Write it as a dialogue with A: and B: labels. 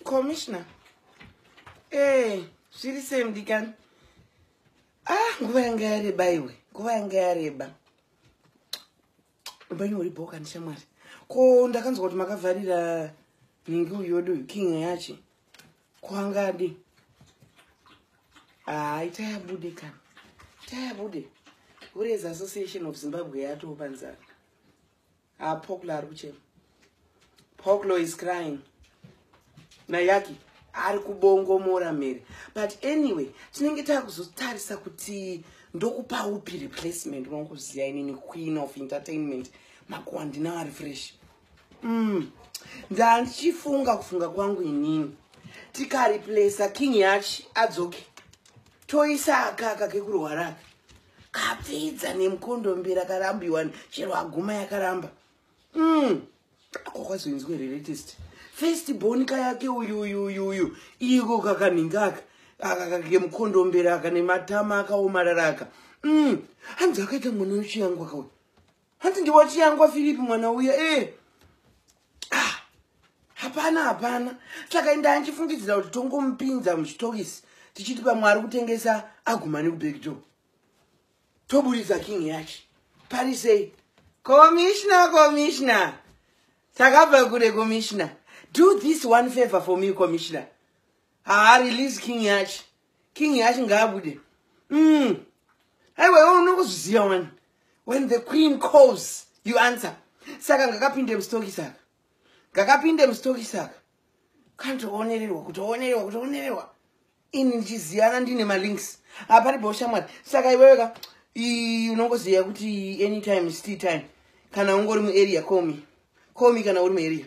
A: commissioner ee eh, zviri sei mudikani ah nguva yanga yareba iwe nguva yanga yareba upenyu huri bhoka ndishamwari ko ndakanzwa kuti makavharira nhingi uyodu uyu king yachi kwangadi haa ah, itayabude kana itayabude hureza association of zimbabwe yatoo panzara ha poklo ari kuchema poklo is crying nayaki ari kubongomora mhere but anyway tinenge takuzotarisa kuti ndokupa upi replacement unongoziva inini queen of entertainment makuwa ndinawo ari fresh mm. ndandichifunga kufunga kwangu inini tikareplacea king yachi adzoke toisa akaka kekurwaraka kapfidza nemkondo mbira karambiwa chero aguma yakaramba mm. ako kwazoinzwa here latest first born kayake uyu uyu uyu uyu iko kakanhingaka akakemukondo mbira aka nematama akaomarara aka mm. hanzi akaita mwana wechiyangu akauya hanzi ndiwachiyangwa philip mwana uya e eh. ah, hapana hapana saka indaa ndichifungidzira kuti tongomupinza muzvitokisi tichiti pamwe ari kutengesa aguma nekubekdo toburitsa king yacho pari sei komishina komishina takabva kure komishina do this one favor for me komishina haa release king yacho king yacho ngaabude mm. aiwa iwe unokuzviziva wani when the queen calls you answer saka ngakapinde mustoki saka ngakapinde mustoki saka kantoonererwa kutoonererwa kutoonererwa ini ndichiziyana ndine malinks hapari boshamwari saka iwewe ka unongoziva kuti anytime sti time kana ungori muarea comi comi kana uri muarea